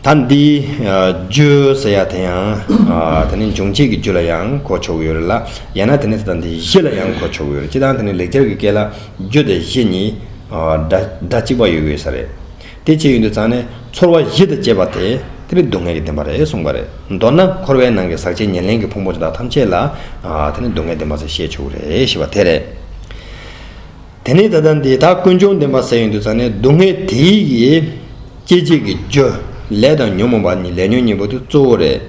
ད་འདི་བརྗོད་ཟེར་ཡ་དེ་ཡང་དེ་ནི་འབྱུང་བྱེད་ཀྱི་རྒྱུ་ལ་ཡང་གོ་ཆོག་གི་ཡོད་རེད་ལ་ཡང་ན་དེ་ནི་ད་འདི་གཞི་ལ་ཡང་གོ་ཆོག་གི་ཡོད་རེད་སྤྱིར་བཏང་དེ་ནི་ལེགས་སྦྱར་གྱི་སྐད་ལ་རྒྱུ་དང་གཞི་གཉིས་སྒྲ་གཅིག་པ་ཡོད་གི་ཡོད་ས་རེད། དེ་བྱས་ཡུན་དུ་བརྩང་ནས་ཚོར་བ་གཞི་དང་བཅས་པ་དེ་དེ་ལས་སྡུག་བསྔལ་གྱི་བདེན་པ་རེད་གསུངས་པ་རེད། མདོར་ན་འཁོར་བའི་ནང་གི་ཟག་བཅས་ཉེར་ལེན་གྱི་ཕུང་པོ་དེ་དག་ཐམས་ཅད་ལ་དེ་ནི་སྡུག་བསྔལ་བདེན་པ་ཟེར་ཤེས་ཆོག་གི་རེད་ཞེས་པ་དེ་རེད། དེ་ནས་ད་ལྟ་འདི་དག་ཀུན་འབྱུང་བདེན་པ་ཟད་ཡོད་འདུག་ཙང་ནས་སྡུག་བསྔལ་དེ་ཡི་གི་སྐྱེ་མཆེད་ཀྱི་རྒྱུ་ལས་དང་ཉོན་མོངས་པ་ནི་ལས་ཉོན་གཉིས་པོ་དེ་གཙོ་བོ་རེད།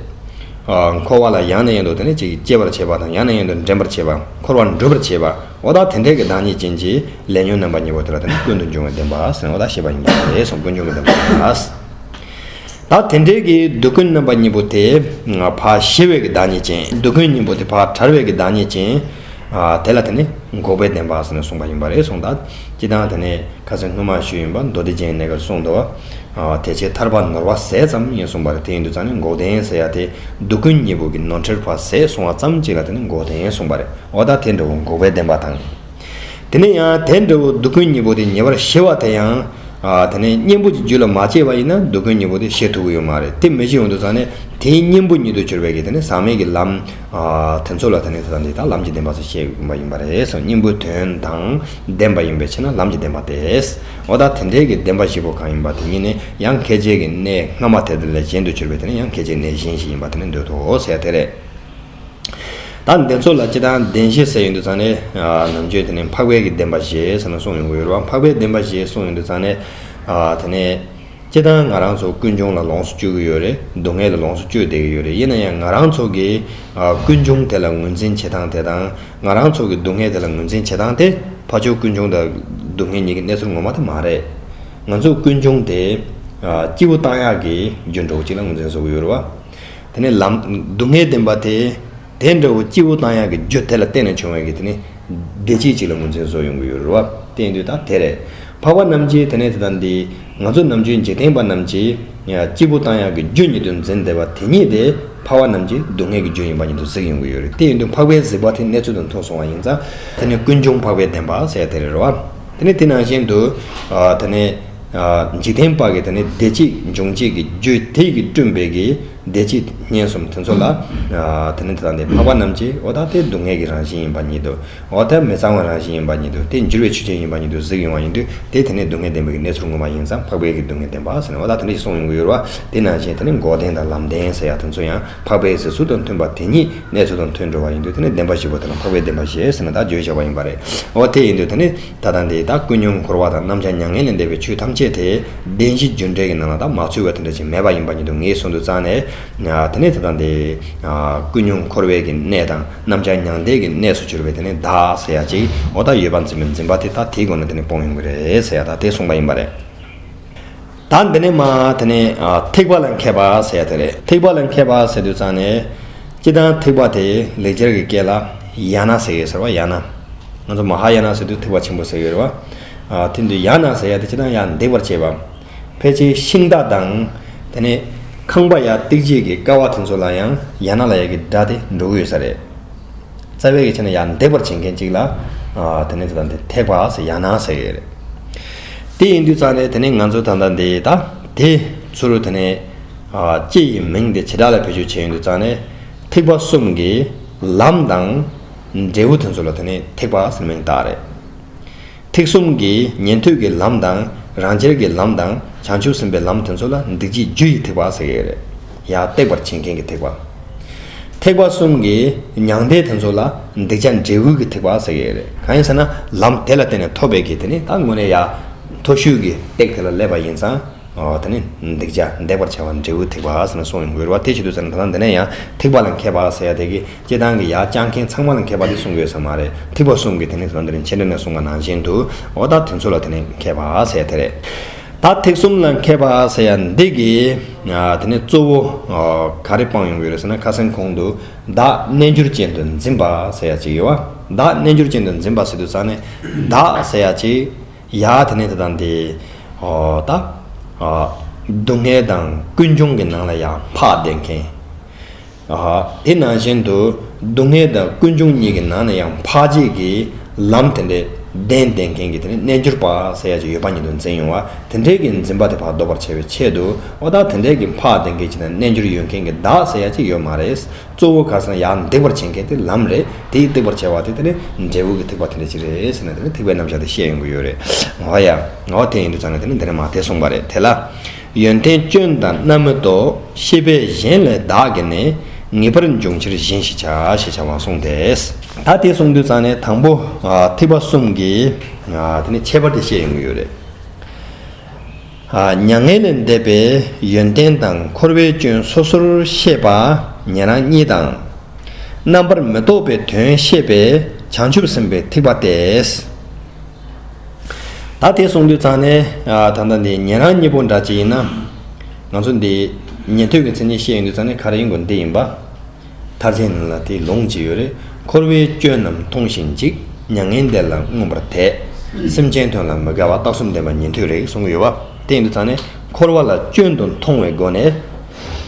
འཁོར་བ་ལ་ཡང་ནས་ཡང་དུ་དེ་ནས་ཅིག་སྐྱེ་བར་བྱེད་པ་དང་ཡང་ནས་ཡང་དུ་འདྲེན་པར་བྱེད་པ་འཁོར་བར་འགྲུབ་པར་བྱེད་པ་འོ་ད་དེ་འདྲའི་གི་བདག་ཉིད་ཅན་གྱི་ལས་ཉོན་རྣམ་པ་གཉིས་པོ་དེ་ལ་དེ་ནི་ཀུན་ཏུ་འབྱུང་བའི་བདེན་པ་ཟེར་ནས་འོ་ད་བཤད་པ་ཡིན་གྱི་རེད་གསུངས་ཀུན་འབྱུང་གི་བདེན་པ། ལ། དེ་འབྲེལ་གྱི་སྡུག་ཀུན་རྣམ་པ་གཉིས་པོ་དེ། བག་ཞི་བའི་གྱི་བདག་ཉིད་ཅན། སྡུག་ཀུན་གཉིས་པོ་དེ་བག་དྲར་བའི་གྱི་བདག་ཉིད་ཅན། དེ་ལ་དེ་ནི་འགོག་པའི་བདེན་པ་ཟེར་ནས་གསུངས་པ་ཡིན་པ་རེད་གསུངས་ད། ཅི་ལྟར་དེ་ནི་ཁ་ཟས་སྣུམ་མ་ཞུ་ཡིན་པ་མདོ་སྡེ་སྦྱིན་གནས་ཀར་གསུངས་འདུག། དེ་བྱས་མཐར་བག་ནོར་བ་ཟས་ཙམ་ཡིན་གསུངས་པ་རེད་དེ་ཡིན་དུ་ཙང་ནི་འགོག་བདེན་ཟེར་ཡ་དེ། སྡུག་ཀུན་གཉིས་པོ་གྱི་ནོར་ཁྲེར་བག་ཟས་བསྲུང་བ་ཙམ་གཅིག་ལ་དེ་ནི་འགོག་བདེན་གསུངས་པ་རེད་འོ་ད་དེ་འདྲ་བོ་འགོག་པའི་བདེན་པ་དང། དེ་ནས་ཡང་དེ་འདྲ་བོ་སྡུག་ཀུན་གཉིས་པོ་དེ་ཉེ་བར་ཞི་བ་དེ་ཡང། དེ་ནས་གཉེན་པོ་གྱི་རྒྱུད་ལ་མ་སྐྱེས་པ་ཡིན་ན་སྡུག་ཀུན་གཉིས་པོ་དེ་ཞི་ཐུབ་ཀྱི་ཡོད་མ་རེད་དེ་མི་ཞི་འོན་དུ་ཟག་ནས་དེའི་གཉེན་པོ་ཉིད་དུ་གྱུར་པའི་གེགས་དེ་ནི་ཟག་མེད་ཀྱི་ལམ། དེ་ཚོ་ལ་དེ་ནི་ད་ལྟ་ལམ་གྱི་བདེན་པ་སོགས་བཤད་ཀྱི་མ་ཡིན་པ་རེད་སོ་གཉེན་པོའི་དོན་དང་ལྡན་པ་ཡིན་པའི་ཕྱིར་ན་ལམ་གྱི་བདེན་པ་སྟེ། འོ་ད་དེ་འབྲེལ་གྱི་བདེན་པ་བཞི་པོ་གང་ཡིན་པ་དེ་གཉིས་ནི་ཡང་ཁེ་བྱེད་ཀྱི་གནས་སྔ་མ་དེ་དག་ལས་གཞན་དུ་གྱུར་པའི་དེ་ནི་ཡང་ཁེ་བྱེད་གནས་གཞན་ཞིག་ཡིན་པ་དེ་ནི་འདོད་དོ་ཟེར་ཡ་དེ་རེད། ད་འདི་ཚོ་ལ་ཅི་དང་བདེན་ཞེས་ཟེར་ཡོད་འདུག་ཙང་ནས། ནང་ཆོས་དེ་ནི་འཕགས་པས་ཀྱི་བདེན་པ་ཞེས་ཟེར་ན་གསུངས་ཡོང་གི་ཡོད་རེད་བ། འཕགས་པས་བདེན་པ་ཞེས་གསུངས་ཡོད་འདུག་ཙང་ནས། དེ་ནས། སྤྱིར་བཏང་ང་རང་ཚོ་ཀུན་འབྱུང་ལ་ལོངས་སུ་སྤྱོད་ཀྱི་ཡོད་རེད། སྡུག་བསྔལ་ལ་ལོངས་སུ་སྤྱོད་བསྡད་ཀྱི་ཡོད་རེད་ཡིན་ན་ཡང་ང་རང་ཚོ་གི། ཀུན་འབྱུང་དེ་ལ་ངོས་འཛིན་བྱེད་སྟངས་དེ་དང། ང་རང་ཚོ་གི་སྡུག་བསྔལ་དེ་ལ་ངོས་འཛིན་བྱེད་སྟངས་དེ། ཕ་ཆོས་ཀུན་འབྱུང་དང། སྡུག་བསྔལ་གཉིས་ཀྱི་གནས་ཚུལ་ངོ་མ་དེ་མ་རེད། ང་ཚོ་ཀུན་འབྱུང་དེ། སྐྱེས་བུ་རྟགས་ཡག་གི་རྒྱུ་འབྲས་བུ་གཅིག་ལ་ངོས་འཛིན་བཟོ་གི་ཡོད་རེད་བ། དེ་ནི་ལམ། སྡུག་བསྔལ་བདེན་པ་དེ། དེ་འདྲ་བོ་སྐྱེས་བུ་དང་ཡང་གི་རྒྱུ་དེ་ལ་བརྟེན་ནས་བྱུང་བའི་གི་དེ་ནི། བདེ་སྐྱིད་ཅིག་ལ་ངོས་འཛིན་བཟོ་ཡོང་གི་ཡོད་རུ་བ། བསྟན་དུས་དང་དེ་རེད། འཕགས་པ་རྣམས་ཀྱིས་དེ་ནས་དེ་དང་འདི། ང་ཚོ་ནམ་རྒྱུན་འཇིག་རྟེན་པ་རྣམས་ཀྱིས། སྐྱེས་བུ་དང་ཡང་གི་རྒྱུ་ཉིད་དུ་འཛིན་བདེ་བ་དེ་ཉིད་དེ། འཕགས་པ་རྣམས་ཀྱིས་སྡུག་བསྔལ་གྱི་རྒྱུ་ཡིན་པ་ཉིད་དུ་གཟིགས་ཡོང་གི་ཡོད་རེད་དེ་ཡིན་དུས་འཕགས་པའི་གཟིགས་པ་དེ་གནས་ཚུལ་དང་མཐུན་སོང་བ་ཡིན་ཙང། དེ་ནི་ཀུན་འབྱུང་འཕགས་པའི་བདེན་པ་ཟེར་ཡ་དེ་རེད་རུ་བ། དེ་ནི་དེ་ནང་བཞིན་དུ། དེ་ནི། འཇིག་རྟེན་དཔག་གི་དེ་ནི་བདེ་སྐྱིད་འབྱུང་བྱེད་ཀྱི་རྒྱུ་དེས་ཀྱིས་བསྐྲུན་པའི་གི་བདེ་སྐྱིད་སྙན་གསུམ་དེ་ཚོ་ལ། དེ་ནི་དེ་དག་ནི་འཕགས་པ་རྣམས་ཀྱིས་འོ་ད་ལྟའི་སྡུག་བསྔལ་གྱི་རང་བཞིན་ཡིན་པ་ཉིད་དུ། འོ་ད་མི་གཙང་བའི་རང་བཞིན་ཡིན་པ་ཉིད་དུ་དེ་འགྱུར་བའི་ཆུ་ཆེན་ཡིན་པ་ཉིད་དུ་གཟིགས་ཡོང་བ་ཡིན་དུས་དེས་དེ་ནི་སྡུག་བསྔལ་བདེན་པའི་གི་གནས་ཚུལ་ངོ་མ་ཡིན་ཙང་འཕགས་པའི་གི་སྡུག་བསྔལ་བདེན་པ་ཟེར་ནས་འོ་ད་དེ་འདྲ་ཞིག་གསུངས་ཡོང་གི་ཡོད་རེད་བ་དེ་ནང་བཞིན་དེ་ནི་འགོག་བདེན་དང་ལམ་བདེན་ཟེར་ཡག་དེ་ཚོ་ཡང་འཕགས་པའི་གཟིགས་ཚུལ་དང་མཐུན་པ་དེ་ཉིད་གནས་ཚུལ་དང་མཐུན་འགྲོ་བ་ཡིན་དུས་དེ་ནི་བདེན་པ་ཞིག་གོ་དེ་ལ་འཕགས་པའི་བདེན་པ་ཞེས་ཟེར་ན་དག་བརྗོད་བྱ་བ་ཡིན་པ་རེད་འོ་དེ་ཡིན་དུས་དེ་ནི། ད་ལྟ་འདི་དག་ཀུན་སྙོམས་འཁོར་བ་དང་རྣམ་བྱང་མྱ་ངན་ལས་འདས་པའི་ཆོས་ཐམས་ཅད་དེ་བདེན་བཞི་རྒྱུ་འབྲས་ཀྱི་ནང་ལ་དག་མ་ཚུད་པ་དེ་འདྲ་ཅིག་མེད་པ་ཡིན་པ་ཉིད་དུ་ངེས་བཟུང་དུ་བརྩམས་ནས། དེ་ནས་ད་ལྟ་འདི། ཀུན་སྙོམས་འཁོར་བའི་གི་གནས་དང་རྣམ་བྱང་མྱང་འདས་ཀྱི་གནས་སུ་གྱུར་པའི་དེ་ནི་བདག་ཟེར་ཡ་ཅིག་འོ་ད་ཡོད་པ་འཛིན་པའི་འཛིན་པ་དེ་དག་དེའི་སྒོ་ནས་དེ་ནི་སྤོང་ཡོང་གི་རེད་ཟེར་ཡ་དག་དེ་གསུངས་པ་ཡིན་པ་རེད། ད་འདི་ནས་མ་དེ་ནས་ཐེག་པ་ལ་མཁས་པ་ཟེར་དེ་རེད་ཐེག་པ་ལ་མཁས་པ་ཟེར་དུས་ཙང་ནས་སྤྱི་དང་ཐེག་པ་དེ་ལེགས་སྦྱར་གྱི་སྐད་ལ་ཡ་ན་ཟེར་ཡོད་ཟེར་བ་ཡ་ན། ང་ཚོ་མ་ཧཱ་ཡ་ན་ཟེར་དུས་ཐེག་པ་ཆེན་པོ་ཟེར་ཡོད་རེད་བ། དེ་འདུས་ཡ་ན་ཟེར་ཡ་དེ་སྤྱི་དང་ཡ་འདེགས་པར་བྱེད་པ། ཕལ་ཆེར་ཤིང་རྟ་དང། དེ་ནས་ཁང་པ་ཡ་སྟེགས་བྱེད་ཀྱི་ཀ་བ་དེ་ཚོ་ལ་ཡང་ཡ་ན་ལ་ཡ་གི་སྒྲ་དེ་འགྲོ་གི་ཡོད་ས་རེད། རྩ་བའི་ཡིག་ཆ་ནི་ཡང་འདེགས་པར་བྱེད་མཁན་གཅིག་ལ། དེ་ནི་དེ་དང་དེ་ཐེག་པ་ཟེར་ཡང་ན་ཟེར་ཡོད་རེད། དེ་ཡིན་དུས་ཙང་རེད་དེ་ནི་ང་ཚོས་ད་ལྟ་འདི་ད་དེ། ཚུར་དེ་ནི། སྤྱི་ཡི་མིང་དེ་བྱེ་བྲག་ལ་བེད་སྤྱོད་བྱས་ཡོད་དུས་ཙང་རེད། ཐེག་པ་གསུམ་གྱི། ལམ་དང། འབྲས་བུ་དེ་ཚོ་ལ་དེ་ནི་ཐེག་པ་ཟེར་མིང་བཏགས་རེད། ཐེག་གསུམ་གྱི་ཉན་ཐོས་ཀྱི་ལམ་དང་རང་རྒྱལ་གྱི་ལམ་དང་བྱང་ཆུབ་སེམས་དཔའི་ལམ་དེ་ཚོ་ལ་འདི་རྗེས་རྒྱུ་ཡི་ཐེག་པ་ཟེར་གྱི་རེད། ཡང་བཏེགས་པར་བྱེད་མཁན་གྱི་ཐེག་པ། ཐེག་པ་གསུམ་གྱི་མྱང་འདས་དེ་ཚོ་ལ་འདི་བྱ་འབྲས་བུ་གྱི་ཐེག་པ་ཟེར་གྱི་རེད། གང་ཡིན་ཟེར་ན་ལམ་དེ་ལ་བརྟེན་ནས་ཐོབ་པའི་གྱི་དེ་ནི་ད་དངོས་གནས་ཡ། མཐོ་ཤོས་ཀྱི་སྟེགས་དེ་ལ་སླེབས་པ་ཡིན་ཙང་དེ་ནི་འདི་བྱ་འདས་པར་བྱ་བ་འབྲས་བུའི་ཐེག་པ་ཟེར་ན་སོང་ཡང་འགོལ་བ་དེ་བྱེད་དུ་ཟེར་ན་ད་ལྟ་འདི་ནས་ཡང་ཐེག་པ་ལ་མཁས་པ་ཟེར་ཡ་དེ་གི། སྐྱེ་སྟངས་ཀྱི་ཡ་བསྐྱར་མཁན་ཚང་མ་ལ་མཁས་པ་དེ་གསུང་དགོས་ས་མ་རེད་ཐིགས་པ་གསུམ་གྱི་དེ་ནས་བཟུང་དེ་རིང་ཕྱི་འབྲེལ་ནས་གསུང་པ་ནང་བཞིན་དུ་ཨོ་ད་དེ་ཚོ་ལ་དེ་ནས་མཁས་པ་ཟེར་དེ་རེད། ད་ཐིགས་གསུམ་ལ་མཁས་པ་ཟེར་ཡ་འདི་གི་དེ་ནས་གཙོ་བོ་ག་རེ་སྤང་ཡོང་གི་རེད་ཟེར་ན་ཁ་སེམས་ཁོང་དུ་བདག་རྣལ་འབྱོར་ཅན་དུ་འཛིན་པ་ཟེར་ཡ་གཅིག་ཡོད་བ་བདག་རྣལ་འབྱོར་ཅན་དུ་འཛིན་པ་ཟེར་དུས་ཙང་ནས་བདག་ཟེར་ཡ་གཅིག་ཡ་དེ་ནས་དེ་དང་དེ་ཨོ་ད་སྡུག་བསྔལ་དང་ཀུན་འབྱུང་གི་ནང་ལ་ཡ་འཕགས་བསྡད་མཁན། དེ་ནང་བཞིན་དུ་སྡུག་བསྔལ་དང་ཀུན་འབྱུང་གཉིས་ཀྱི་ནང་ན་ཡང་འཕགས་རྗེས་ཀྱི་ལམ་དེ་འདྲའི་གདན་བདེན་མཁན་གྱི་དེ་རྣལ་འབྱོར་པ་ས་ཡ་གཅིག་ཡོད་པ་ཉིད་དུ་འཛིན་ཡོང་བ་དེ་འདྲའི་གྱི་འཛིན་པ་དེ་བར་ཟློག་པར་བྱ་བའི་ཆེད་དུ་བ་དག་དེ་འདྲའི་གྱི་འཕགས་བདེན་མཁན་གྱི་དང་རྣལ་འབྱོར་ཡོད་མཁན་གྱི་བདག་ས་ཡ་གཅིག་ཡོད་མ་རེད་གཙོ་བོ་གར་སོང་ཡང་འདེགས་པར་བྱེད་མཁན་དེ་ལམ་རེད་དེ་ཡིས་འདེགས་པར་བྱ་བ་དེ་དེ་ནི་འབྲས་བུ་གྱི་ཐེག་པ་དེ་འདྲ་ཅིག་རེད་ཟེར་ན་དེ་ནི་ཐེག་པའི་རྣམ་གཞག་དེ་བཤད་ཡོང་གི་ཡོད་རེད་ང་བ་ཡ། ང་བ་དེ་ཡིན་དུ་ཆ་ན་དེ་ནི་འདི་ནས་མ་དེ་གསུངས་པ་རེད་དེ་ལ། ཡོན་ཏན་སྐྱོན་དང་རྣམ་མི་རྟོག། ཤེས་པས་གཞན་ལས་བདག་གི་ནི། ངེས་པར་འབྱུང་ཕྱིར་གཞན་ཞིག་བྱ། ཞེས་བྱ་བ་གསུངས་ཏེ། ད་དེ་གསུངས་དུས་ཙང་ནས་དང་པོ་ཐེག་པ་གསུམ་གྱི་དེ་ནི་ཁྱད་པར་དེ་བཤད་ཡོང་གི་ཡོད་རེད། མྱ་ངན་ལས་འདས་པའི་ཡོན་ཏན་དང་འཁོར་བའི་སྐྱོན་སོ་སོར་ཤེས་པ་ཉན་རང་གཉིས་དང། རྣམ་པར་མི་རྟོག་པའི་དོན་ཤེས་པས་བྱང་ཆུབ་སེམས་དཔའི་ཐེག་པ་སྟེ། ད་དེ་གསུངས་དུས་ཚང་ནས་ད་ལྟ་འདི་ཉན་རང་གཉིས་པོ་འདྲ་གཅིག་ཡིན་ན། ང་ཚོ་འདི་ཉན་ཐོས་ཀྱི་མཚན་ཉིད་ཤེས་ཡོན་དུས་ཚང་ནས་ག་རེ་ཡིན་དགོས་འདི་ཡིན་པ། ཐབས་ཆེན་ལ་དེ་ལོངས་ཇི་ཡོད་རེ་འཁོར་བའི་སྐྱོན་རྣམས་མཐོང་ཞིང་འཇིག་མྱ་ངན་འདས་ལ་མངོན་པར་དད། སེམས་ཅན་དོན་ལ་མི་དགའ་བ་རྟགས་གསུམ་ལྡན་པ་ཉན་ཐོས་རེད་གསུངས་གི་ཡོད་པ། དེ་ཡིན་དུས་ཚང་ནས་འཁོར་བ་ལ་སྐྱོན་དུ་མཐོང་བའི་སྒོ་ནས།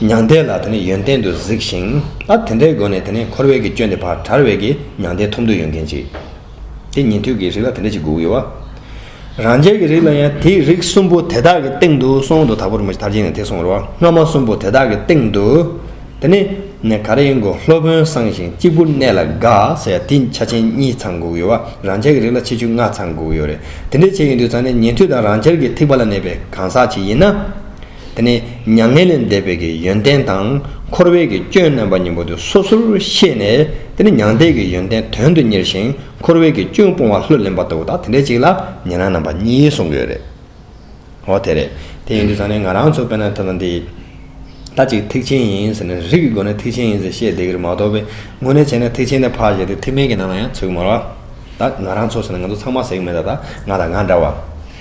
མྱང་འདས་ལ་དེ་ནས་ཡོན་ཏན་དུ་གཟིགས་ཤིང་ཨ་དེ་འདྲའི་སྒོ་ནས་དེ་ནས་འཁོར་བའི་གྱི་སྐྱོན་དེ་བག་གྲར་བས་ཀྱི་མྱང་འདས་ཐོབ་འདོད་ཡོད་མཁན་གཅིག། དེ་ཉན་ཐོས་ཀྱི་རིགས་ལ་དེ་འདྲ་ཞིག་དགོས་ཀྱི་ཡོད། རང་རྒྱལ་གྱི་རིགས་ལ་ཡང་དེའི་རིགས་གསུམ་པོ་དེ་དག་གི་སྟེང་དུ་སོང་དུ་དག་པར་མི་བྱེད་མཐར་ཕྱིན་ནས་དེ་སོང་རོ། སྔ་མ་གསུམ་པོ་དེ་དག་གི་སྟེང་དུ། དེ་ནི། ནས་ག་རེ་ཡིན་གོ་སློབ་དཔོན་གསང་ཞིང་གཅིག་པུར་གནས་ལ་དགའ་ཟེར་ཡ་དེ་ཆ་ཆེན་གཉིས་ཚང་དགོས་ཀྱི་ཡོད། རང་རྒྱལ་གྱི་རིགས་ལ་ཆེ་ཆུང་ལྔ་ཚང་དགོས་ཀྱི་ཡོད་རེད། དེ་འདྲ་བྱེད་ཀྱི་འདུག་ཚང་ནས་ཉན་ཐོས་དང་རང་རྒྱལ་གྱི་ཐེག་པ་ལ་གནས་པའི་གང་ཟག་ཅིག་ཡིན་ན། དེ་ནས་མྱ་ངན་ལས་འདས་པའི་གི་ཡོན་ཏན་དང་འཁོར་བའི་གི་སྐྱོན་རྣམ་པ་གཉིས་པོ་དེ་སོ་སོར་ཤེས་ནས་དེ་ནས་མྱང་འདས་ཀྱི་ཡོན་ཏན་དོན་དུ་གཉེར་ཞིང་འཁོར་བའི་གི་སྐྱོན་སྤོང་བ་ལྷུར་ལེན་པ་ལྟ་བུ་དང་དེ་འདྲའི་གཅིག་ལ་ཉན་རང་རྣམ་པ་གཉིས་གསུངས་ཀྱི་ཡོད་རེད། ཨོ་དེ་རེད། དེ་ཡིན་དུས་ཚང་ནས་ང་རང་ཚོ་དཔེར་ན་ཐོས་ན་འདི་ད་ཅིག་ཐེག་ཆེན་ཡིན་ཟེར་ནས་རིགས་ཀྱི་སྒོ་ནས་ཐེག་ཆེན་ཡིན་ཟེར་བཤད་བསྡད་ཀྱི་རེད་མ་གཏོགས་པའི་ངོ་ནས་བྱས་ན་ཐེག་ཆེན་ནས་ཕར་བཞག་སྟེ་ཐེག་དམན་གྱི་ནང་ལ་ཡང་ཚུད་ཀྱི་མ་རེད། ད་ང་རང་ཚོ་ཟེར་ན་ང་ཚོ་ཚང་མ་ཟེར་གྱི་མེད་ད་ད་ང་དང་ང་འདྲ་བ།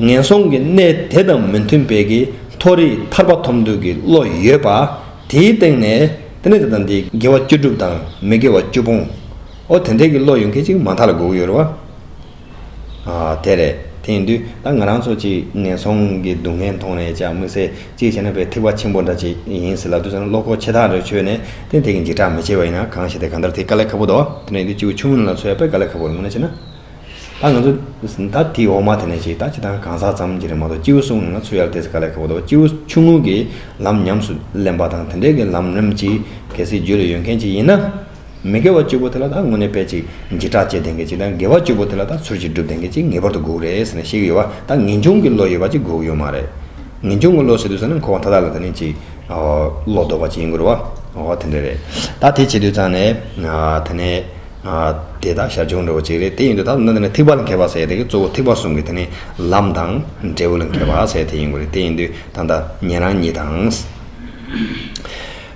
ངན་སོང་གི་གནས་དེ་དང་མི་མཐུན་པའི་གི་མཐོ་རིས་ཐར་པ་ཐོབ་འདོད་ཀྱི་བློ་ཡོད་པ། དེའི་སྟེང་ནས་དེ་ནས་དེ་དང་དེའི་དགེ་བ་བཅུ་བསྒྲུབ་དང་མི་དགེ་བ་བཅུ་སྤོང་ཨོ་དེ་འད་ཀྱི་བློ་ཡོད་མཁན་ཅིག་མ་མཐའ་ལ་སྒུག་ཡོད་རེད་བ། ཨ་དེ་རེད་དེ་ཡིན་དུས་ད་ང་རང་ཚོ་ཅིག་ངན་སོང་གི་སྡུག་བསྔལ་མཐོང་ནས་ཅག་དམིགས་བསལ་ཅིག་བྱས་ན་བའི་ཐིག་བ་ཆེན་པོ་འདྲ་ཅིག་ཡིན་སྲིད་ལབ་དུས་སང་བློ་ཁོག་ཆེ་ཐག་རེ་ཆོད་ནས་དེ་ནས་དེ་གི་འཇིགས་སྐྲག་མི་བྱེད་པ་ཡིན་ན་གང་ཞིག་དེ་ག་འདྲ་དེ་དཀའ་ལས་ཁ་པོ་འདུག་དེ་ནས་དེ་ཅིག་བུ་ཆུང་ངུ་ནས་ལ་འཚོལ་ཡ་དཔེ་ག་ལས་ཁ་པོ་རེ་ངོ་ན་བྱས་ན། ད་ང་ཚོ་ད་དེ་འོག་མ་དེ་ནས་ཅིག་ད་ཅི་དང་གང་ཟག་ཙམ་གྱི་རེད་མ་གཏོགས་སྐྱེ་བོ་སོང་ང་ཚོ་ཡར་འདེད་ས་ག་ལས་ག་བོ་འདུག་སྐྱེ་བོ་ཆུང་ངུ་གི་ལམ་ཉམས་སུ་ལེན་པ་དང་དེ་འདྲས་ཀྱི་ལམ་རིམ་ཅིག་གལ་སྲིད་རྒྱུད་ལ་ཡོད་མཁན་ཅིག་ཡིན་ན། མི་དགེ་བ་བཅུ་པོ་དེ་ལ་ད་དངོས་གནས་དཔེ་ཅིག་འབྱེད་དྲག་བྱེད་ལྡན་མཁན་ཅིག་དང་དགེ་བ་བཅུ་པོ་དེ་ལ་ད་ཚུལ་གྱིས་སྒྲུབ་ལྡན་མཁན་ཅིག་ངེས་པར་དུ་སྒུག་རེད་ཟེར་ནས་བཤད་ཀྱི་ཡོད་བ་ད་ངེས་འབྱུང་གི་བློ་ཡོད་པ་ཅིག་སྒུག་ཡོད་མ་རེད། ངེས་འབྱུང་གི་བློ་ཟེར་དུས་ས་ནི་འཁོར་བ་མཐའ་དག་ལ་དེ་ནི་ཅིག་བློ་ལྡོག་པ་ཅིག་ཡིན་དགོས་རེད་བ། འོ་དེ་འདྲས་རེད། ད་དེ་བྱེད་དུས་ཙང་ནས་དེ་ནས་དེ་དག་ཞར་བྱུང་འགྲོ་བ་གཅིག་རེད་དེ་ཡིན་དུས་ད་དུང་འདི་ནས་ཐིགས་པ་ལ་མཁས་པ་ཟེར་དེ་གི་གཙོ་བོ་ཐིགས་པ་གསུམ་གི་དེ་ནི་ལམ་དང་འབྲས་བུ་ལ་མཁས་པ་ཟེར་དེ་ཡིན་དགོས་རེད་དེ་ཡིན་དུས་ད་ལྟ་ཉན་རང་ཉིད་དང།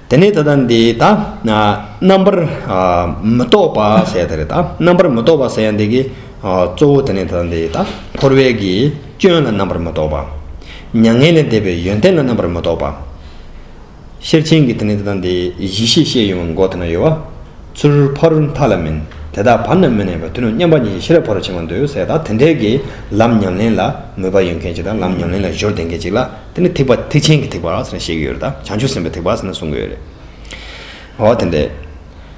དེ་ནས་ད་ལྟ་འདི་ད་རྣམ་པར་མི་རྟོག་པ་ཟེར་དེ་རེད་ད་རྣམ་པར་མི་རྟོག་པ་ཟེར་འདི་གི་གཙོ་བོ་དེ་ནི་ད་ལྟ་འདི་ད་འཁོར་བའི་གི་སྐྱོན་ལ་རྣམ་པར་མི་རྟོག་པ། མྱ་ངན་ལས་འདས་པའི་ཡོན་ཏན་ལ་རྣམ་པར་མི་རྟོག་པ། ཤེར་ཕྱིན་གྱི་དེ་ནས་དེ་དང་དེའི་གཞི་ཤེས་ཤེས་ཡོང་བའི་མགོ་དེ་ན་ཡོད་བ། ཚུར་ཕ་རུ་མཐའ་ལ་མིན། དེ་དག་བར་ན་མི་གནས་པར་དུས་ནམ་མཉམ་པ་ཉིད་ཀྱི་ཤེས་རབ་ཕ་རུ་ཕྱིན་པར་འདོད་ཡོད་ཟེར་ད་དེ་འདྲའི་གི་ལམ་ཉམས་ལེན་ལ་མོས་པ་ཡོད་མཁན་ཅིག་དང་ལམ་ཉམས་ལེན་ལ་གཞོལ་བདེ་མཁན་ཅིག་ལ་དེ་ནི་ཐེག་པ་ཐེག་ཆེན་གྱི་ཐེག་པ་ཟེར་ན་ཤེས་གི་ཡོད་རེད་ད་བྱང་ཆུབ་སེམས་པའི་ཐེག་པ་ཟེར་ན་གསུང་གི་ཡོད་རེད། འོ་དེ་འདྲའི།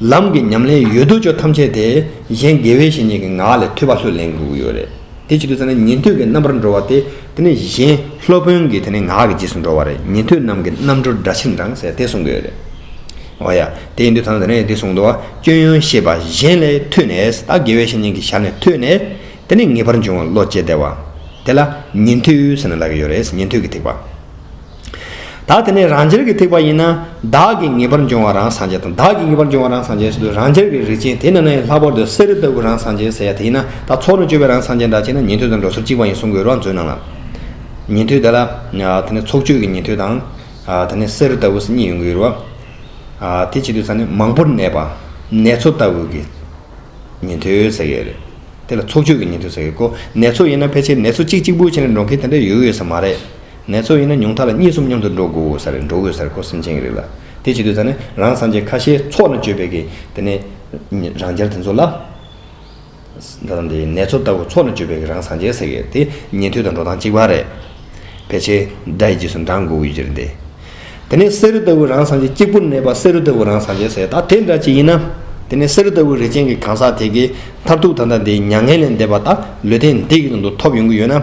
ལམ་གྱི་ཉམས་ལེན་ཡོད་དོ་ཅོག་ཐམས་ཅད་དེ་གཞན་དགེ་བའི་བཤེས་གཉེན་གྱི་ངག་ལས་ཐོས་པ་ལྷོད་ལེན་དགོས་ཀྱི་ཡོད་རེད། དེ་བྱེད་དུས་ཚང་མ་ཉན་ཐོས་ཀྱི་རྣམ་པར་འགྲོ་བ་དེ་དེ་ནི་གཞན་སློབ་དཔོན་གྱི་དེ་ནི་ངག་གི་རྗེས་སུ་འགྲོ་བ་རེད་ཉན་ཐོས་རྣམས་ཀྱི་རྣམ་འགྲོ་འདྲ་ཕྱིར་འབྲང་ཟེར་དེ་གསུང་གི་ཡོད་རེད། འོ་ཡ། དེ་ཡིན་དུས་ཚང་མ་དེ་ནས་དེ་གསུང་འདུག་ཨ་སྐྱོན་ཡོན་ཤེས་པ་གཞན་ལས་ཐོས་ནས་ད་དགེ་བའི་བཤེས་གཉེན་གྱི་ཞལ་ནས་ཐོས་ནས་དེ་ནི་ངེས་པར་འབྱུང་བ་བློ་སྐྱེ་བདེ་བ། དེ་ལ་ཉན་ཐོས་ཟེར་ནས་ལབ་ཀྱི་ཡོད་རེད་ཉན་ཐོས་ཀྱི་ཐེག་པ། ད་དེ་ནས་རང་རྒྱལ་གྱི་ཐེག་པ་ཡིན་ན། བདག་གིས་ངེས་པར་འབྱུང་བ་རང་སངས་རྒྱས་དང་བདག་གིས་ངེས་པར་འབྱུང་བ་རང་སངས་རྒྱས་སོགས་དུས་རང་ཅིར་གྱི་རིགས་ཅན་དེ་རྣམས་ལས་ལྷག་པར་དུ་གསེར་རི་ལྟ་བུ་རང་སངས་རྒྱས་ཟེར་ཡ་དེ་ཡིན་ན་ད་ཚོགས་ནས་སྤྱོད་པའི་རང་སངས་རྒྱས་འདྲ་བྱས་ན་ཉན་ཐོས་དང་འགྲོ་སོར་གཅིག་པ་ཡིན་གསུང་དགོས་རོགས་མཛོད་གནང། ཉན་ཐོས་དེ་ལ། དེ་ནས་ཚོགས་སྤྱོད་ཀྱི་ཉན་ཐོས་དང། དེ་ནས་གསེར་རི་ལྟ་བུ་སོགས་གཉིས་ཡོང་གི་ཡོད་རེད་བ། དེ་བྱེད་དུས་ཚང་ནས་མང་པོར་གནས་པ། ནེ་ཚོ་ལྟ་བུ་གི། ཉན་ཐོས་ཟེར་ཡས་རེད། དེ་ལ་ཚོགས་སྤྱོད་ཀྱི་ཉན་ཐོས་ཟེར་ཡས་ཀོ། ནེ་ཚོ་ཡིན་ན་ཕལ་ཆེར་ནེ་ཚོ་གཅིག་གཅིག་པུ་བྱས་ནས་འགྲོ་མཁན་དེ་འདྲ་ཡོད་ཡོད་ས་མ་རེད། ནས་ཚོ་ཡིན་ན་ཉུང་མཐའ་ལ་གཉིས་གསུམ་མཉམ་དུ་འགྲོ་དགོས་སར་རེད་འགྲོ་དགོས་སར་ཁོ་སེམས་ཅན་གྱི་རིགས་ལ་དེ་བྱེད་དུས་ཚང་ནི་རང་སངས་རྒྱས་ཁ་ཤས་ཚོགས་ནས་བཅོས་པའི་གི་དེ་ནི་རང་རྒྱལ་དེ་ཚོ་ལ་ད་དང་དེ་ནས་ཚོ་ལྟ་བུ་ཚོགས་ནས་བཅོས་པའི་གི་རང་སངས་རྒྱས་ཟེར་གི་དེ་ཉན་ཐོས་དང་འགྲོ་སྟངས་གཅིག་པ་རེད་ཕལ་ཆེར་དགྲ་ཡི་རྗེས་སུ་འབྲང་དགོས་ཀྱི་ཡོད་རེད་དེ་དེ་ནི་བསེ་རུ་ལྟ་བུ་རང་སངས་རྒྱས་གཅིག་པུར་གནས་པ་བསེ་རུ་ལྟ་བུ་རང་སངས་རྒྱས་ཟེར་ད་དེ་འདྲ་གཅིག་ཡིན་ན་དེ་ནི་བསེ་རུ་ལྟ་བུ་རིགས་ཅན་གྱི་གང་ཟག་དེ་གི་མཐར་ཐུག་ད་དང་དེའི་མྱ་ངན་ལས་འདས་པ་ད་ལོས་དེ་འདི་གི་ནང་དུ་ཐོབ་ཡོང་གི་ཡོད་ན།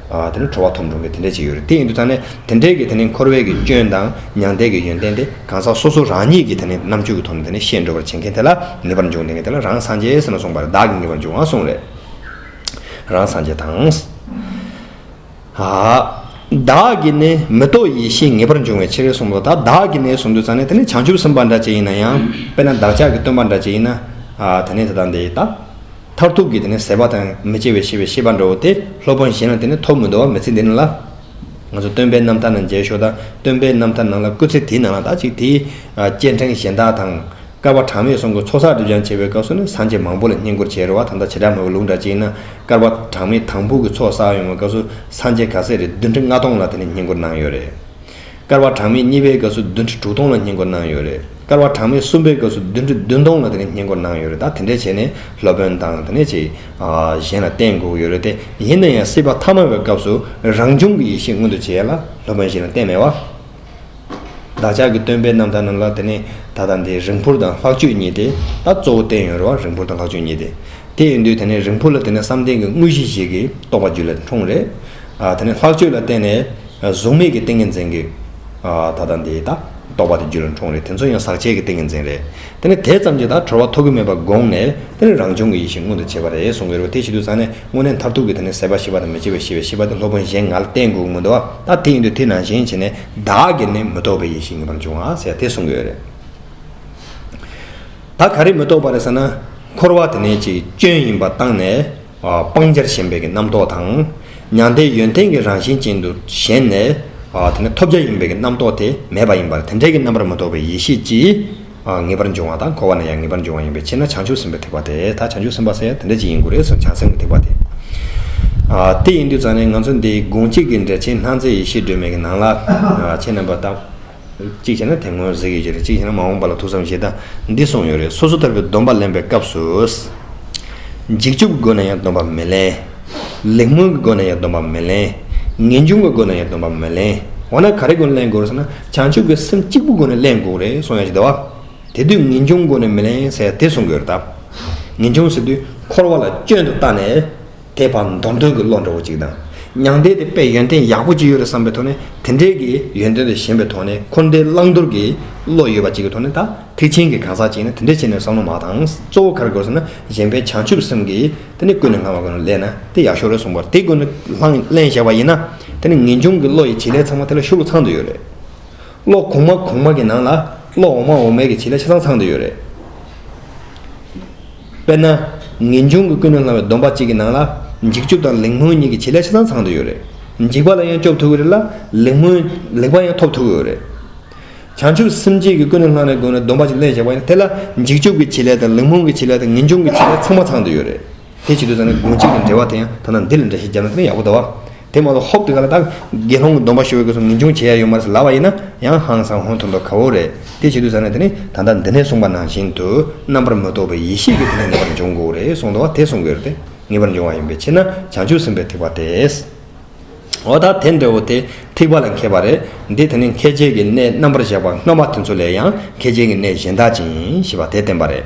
དེ་ནི་ཁྲོ་བ་ཐོབ་འགྲོ་མཁན་དེ་འདྲས་ཅིག་ཡོད་རེད་དེ་ཡིན་དུས་ད་ནི་དེ་འདྲས་ཀྱི་དེ་ནི་འཁོར་བའི་གི་སྐྱོན་དང་མྱང་འདས་ཀྱི་ཡོན་ཏན་དེ་གང་ཟག་སོ་སོ་རང་ཉིད་ཀྱི་དེ་ནི་རྣམ་དཔྱོད་ཀྱི་ཐོག་ནས་དེ་ནི་ཤེས་འགྲོ་བར་བྱེད་མཁན་དེ་ལ་ངེས་པར་འབྱུང་དེ་ངས་དེ་ལ་རང་སངས་རྒྱས་ཟེར་ན་གསུངས་པར་བདག་གིས་ངེས་པར་འབྱུང་ང་གསུངས་རེད། རང་སངས་རྒྱས་དང། བདག་གིས་ནི་མི་རྟོག་ཡེ་ཤེས་ངེས་པར་འབྱུང་བའི་ཕྱིར་གསུངས་པ་ད་བདག་གིས་ནི་གསུངས་དུས་ད་ནི་དེ་ནི་བྱང་ཆུབ་སེམས་དཔའ་འདྲ་ཅིག་ཡིན་ན་ཡང་དཔེར་ན་བདག་ཅག་གི་སྟོན་པ་འདྲ་ཅིག་ཡིན་ན་དེ་ནི་དེ་དང་དེ་ལྟ། མཐར་ཐུག་གི་དེ་ནི་ཟད་པ་དང་མི་སྐྱེ་བའི་ཤེས་པའི་ཤེས་པ་འགྲོ་བ་སྟེ་སློབ་དཔོན་གཞན་ལ་དེ་ནི་ཐོབ་མི་འདོད་བ་མི་ཚིག་འདི་ནི་ལ། ང་ཚོ་སྟོན་པའི་རྣམ་ཐར་ན་མཇལ་ཞོར་དང་སྟོན་པའི་རྣམ་ཐར་ནང་ལ་བཀོད་ཚིག་དེའི་ནང་ལ་དག་ཅིག་དེའི། སྐྱེ་འཕྲེང་གཞན་དག་དང། སྐལ་བ་གྲངས་མེད་སོང་གི་ཚོགས་བསགས་སྒྲིབ་སྦྱང་བྱེད་པའི་སྐབས་སུ་ནི་སངས་རྒྱས་མང་པོ་ལ་བསྙེན་བཀུར་བྱེད་རོལ་བ་དང་དང་བྱེ་བྲག་མོས་གུས་ལུགས་འདྲ་གཅིག་ན་སྐལ་བ་གྲངས་མེད་དང་པོ་གི་ཚོགས་བསགས་ཡོང་བའི་སྐབས་སུ་སངས་རྒྱས་ག་ཚད་རེད་བདུན་ཁྲི་ལྔ་སྟོང་ལ་དེ་ནི་བསྙེན་བཀུར་གནང་ཡོད་རེད། སྐར་བ་གྲངས་མེད་གཉིས་པའི་སྐབས་སུ་བདུན་ཁྲི་དྲུག་སྟོང་ལ་སྙིང་བསྐོར་གནང་ཡོད་རེད། སྐར་བ་གྲངས་མེད་གསུམ་པའི་སྐབས་སུ་བདུན་ཁྲི་བདུན་སྟོང་ལ་དེ་ག་སྙིང་བསྐོར་གནང་ཡོད་རེད་ད་དེ་འདྲས་བྱས་ནས་སློབ་དཔོན་དང་དེ་ནས་ཅིག་གཞན་ལ་བསྟན་དགོས་ཀྱི་ཡོད་རེད་དེ་ཡིན་ན་ཡང་སྲིད་པ་ཐ་མ་བའི་སྐབས་སུ་རང་བྱུང་གི་ཡེ་ཤེས་མངོན་དུ་བྱས་ལ་སློབ་དཔོན་ཞིག་ལ་བསྟན་མེད་བ། བདག་ཅག་གི་སྟོན་པའི་རྣམ་ཐར་རྣམས་ལ་དེ་ནས་ད་ལྟ་འདི་རིང་འཕུར་དང་ལྷག་སྤྱོད་གཉིས་ཏེ་ད་གཙོ་བོ་བསྟན་ཡོད་རེད་བ་རིང་འཕུར་དང་ལྷག་སྤྱོད་གཉིས་ཏེ་དེ་ཡིན་དུས་དེ་ནས་རིང་འཕུར་ལ་དེ་ནས་བསམ་གཏན་གྱི་དངོས་གཞི་ཞིག་གིས་རྟོགས་པ་རྒྱུད་ལ་འཁྲུངས་རེད། དེ་ནས་ལྷག་སྤྱོད་ལ་བརྟེན་ནས། གཟུགས་མེད་ཀྱི་ཏིང་ངེ་འཛིན་གྱིས། ད་ལྟ་འདི་ད་རྟོགས་པ་དེ་རྒྱུད་ལ་འཁྲུངས་རེད་དེ་ཚོ་ཡང་ཟག་བཅས་ཀྱི་ཏིང་ངེ་འཛིན་རེད། དེ་ནས་དེ་ཙམ་གྱིས་ད་གྲོལ་བ་ཐོབ་ཀྱི་མེད་པར་དགོངས་ནས། དེ་ནས་རང་བྱུང་གི་ཡེ་ཤེས་མངོན་དུ་བྱེད་པ་རེད་གསུངས་ཀྱི་རེད་དེ་ཞིག་ཏུ་ཟག་ནས་དངོས་གནས་མཐར་ཐུག་གི་དེ་ནས་ཟད་པ་ཤེས་པ་དང་མི་སྐྱེ་བའི་ཤེས་པའི་ཤེས་པ་དེ་སློབ་དཔོན་གཞན་ང་ལ་བསྟན་དགོས་ཀྱི་མི་འདུག་ཨ། ད་དེ་ཡིན་དུས་དེ་ནང་བཞིན་བྱས་ནས་བདག་གིས་ནི་མི་རྟོག་པའི་ཡེ་ཤེས་ངེས་པར་འབྱུང་ཨ་ཟེར་དེ་གསུངས་ཀྱི་ཡོད་རེད། ད་ག་རེ་མི་རྟོག་པ་རེད་ཟེར་ན། འཁོར་བ་དེ་ནི་ཅིག་སྐྱོན་ཡིན་པ་བཏང་ནས། སྤང་བྱར་ཞེན་པའི་རྣམ་རྟོག་དང། མྱང་འདས་ཡོན་ཏན་གྱི་རང་བཞིན་ཅན་དུ་ཞེན་ནས། དེ་ནས་ཐོབ་བྱ་ཡིན་པའི་རྣམ་རྟོག་དེ་མེད་པ་ཡིན་པར་དེ་འབྲས་ཀྱི་རྣམ་པར་མི་རྟོག་པའི་ཡེ་ཤེས་ཀྱིས། ངེས་པར་འབྱུང་བ་དང་འཁོར་བ་ན་ཡང་ངེས་པར་འབྱུང་བ་ཡིན་པའི་ཕྱིར་ན་བྱང་ཆུབ་སེམས་དཔའི་ཐེག་པ་དེ་དག་བྱང་ཆུབ་སེམས་དཔའ་ས་ཡ་དེ་འདྲ་ཅིག་ཡིན་དགོས་རེ་ཟུང་བྱང་སེམས་ཀྱི་ཐེག་པ་དེ། དེ་ཡིན་དུས་ཙང་ནས་ང་ཚོ་འདི་དགོངས་གཅིག་གི་འགྲེལ་ཆེན་སྣང་མཛད་ཡེ་ཤེས་སྒྲོན་མེ་གྱི་ནང་ལ། ཆེས་རྣམ་པར་དག། གཅིག་བྱས་ན་དེ་སྔོན་གཟིགས་ཡོད་ཀྱི་རེད་གཅིག་བྱས་ན་མ་འོངས་པ་ལ་ཐུགས་བསམ་ཞེ་ད་འདི་གསུངས་ཡོད་རེད་སོ་སོ་ལྟ་བུའི་སྡོམ་པ་ལེན་པའི་སྐབས་སུ། འཇིགས་སྐྱོབ་སྒོ་ནས་ཡང་སྡོམ་པ་མི་ལེན། ལེགས་སྨོན་གྱི་སྒོ་ནས་ཡང་སྡོམ་པ་མི་ལེན། ངེས་འབྱུང་གི་སྒོ་ནས་ཡང་སྡོམ་པ་མི་ལེན། འོ་ན་ག་རེའི་སྒོ་ནས་ལེན་དགོས་རེད་ཟེར་ན་བྱང་ཆུབ་ཀྱི་སེམས་གཅིག་པུ་སྒོ་ནས་ལེན་དགོས་རེད་གསུངས་ཡོད་ཀྱི་རེད་བ། དེ་དུས་ངེས་འབྱུང་སྒོ་ནས་མི་ལེན་ཟེར་ཡ་དེ་གསུང་དགོས་རེད་ད། ངེས་འབྱུང་ཟེར་དུས་འཁོར་བ་ལ་སྐྱོན་དུ་བལྟ་ནས། དད་པ་མདོ་འདོན་གྱི་བློ་འདྲ་བོ་གཅིག་དང། མྱང་འདས་དེ་པས་ཡོན་ཏན་ཡག་པོ་གཅིག་ཡོད་རེད་བསམ་པའི་ཐོག་ནས་དེ་འདྲའི་གི་ཡོན་ཏན་དེ་ཞན་པའི་ཐོག་ནས་འཁོར་འདས་བླང་དོར་གྱི་བློ་ཡོད་པ་གཅིག་གི་ཐོག་ནས་ད་ཐེག་ཆེན་གྱི་གང་ཟག་གཅིག་ཡིན་ན་དེ་འདྲའི་ཆེད་ནས་བསམ་བློ་མ་དང་གཙོ་བོ་ག་རེ་དགོས་ཟེར་ན་གཞན་པའི་བྱང་ཆུབ་སེམས་ཀྱི་དེ་ནི་ཀུན་ནས་སྣང་བ་དགོས་ན་ལས་ན་དེ་ཡག་ཤོས་རེད་གསུངས་པར་དེ་ཀུན་ནས་ལྷང་ལེན་བྱས་པ་ཡིན་ན་དེ་ནི་ངེས་འབྱུང་གི་བློ་ཡི་བྱེད་ལས་ཚང་མ་དེ་ལ་ཤུགས་ཚང་དུ་ཡོད་རེད། བློ་གོང་མ་གོང་མ་གྱི་ནང་ལ་བློ་འོག་མ་འོག་མའི་གི་བྱེད་ལས་ཆ་ཚང་ཚང་དུ་ཡོད་རེད། དཔེར་ན། ངེས་འབྱུང་གི་ཀུན་ནས་བསླང་བའི་སྡོམ་པ་གཅིག་གི་ནང་ལ། འཇིགས་སྐྱོབ་དང་ལེགས་སྨོན་གཉིས་ཀྱི་བྱེད་ལས་ཆ་ཚང་ཚང་དུ་ཡོད་རེད། འཇིགས་པ་ལ་ཡང་སྐྱོབ་ཐུབ་ཀྱི་རེད་ལ། ལེགས་སྨོན། ལེགས་པ་ཡང་ཐོབ་ཐུབ་ཀྱི་ཡོད་རེད། བྱང་ཆུབ་སེམས་བསྐྱེད་ཀྱི་ཀུན་ནས་བསླང་བའི་སྒོ་ནས་སྡོམ་པ་གཅིག་ལེན་བཞག་པ་ཡིན་ན་དེ་ལ། འཇིགས་སྐྱོབ་ཀྱི་བྱེད་ལས་དང་ལེགས་སྨོན་གྱི་བྱེད་ལས་དང་ངེས་འབྱུང་གི་བྱེད་ལས་ཚང་མ་ཚང་དུ་ཡོད་རེད། དེ་བྱེད་དུས་ཚང་ནི་དགོངས་གཅིག་གི་འགྲེལ་བ་དེ་ཡང་ཐ་ན་འདི་ལ་འདྲ་ཞེས་སྦྱར་ན་ཡང་ཡག་པོ་འདུག་བ། དེ་མ་ལོ་ཧོབ་ཏུ་ག་ལ་དག་དགེ་སློང་གི་སྡོམ་པ་ཤོར་བའི་གོས་སུ་ངེས་འབྱུང་བྱེད་ཡ་ཡོད་མ་རེད་ལབ་བ་ཡིན་ན་ཡང་ཧང་སང་ཧོན་ཐོར་འདོག་ག་བོ་རེད་དེ་བྱེད་དུས་ཟ་ན་དེ་ནི་ད་ལྟ་འདི་ནས་གསུངས་པ་ནང་བཞིན་དུ་རྣམ་པར་མི་རྟོག་པའི་ཡེ་ཤེས་ཀྱི་དེ་ནས་ངེས་པར་འབྱུང་དགོས་རེད་གསུངས་འདུག་བ་དེ་གསུང་གི་རེད་ངེས་པར་འབྱུང་བ་ཡིན་པའི་ཕྱིར་ན་བྱང་ཆུབ་སེམས་དཔའི་ཐེག་པ་དེས་འོ་ད་དེ་འདྲ་བོ་དེ་ཐེག་པ་ལ་མཁས་པ་རེད་འདི་དེ་ནི་མཁས་བྱེད་ཀྱི་གནས་རྣམ་པར་བཞག་པ་སྔ་མ་དེ་ཚོ་ལས་ཡང་མཁས་བྱེད་ཀྱི་གནས་གཞན་དག་ཅིང་ཞེས་པ་དེ་བསྟན་པ་རེད།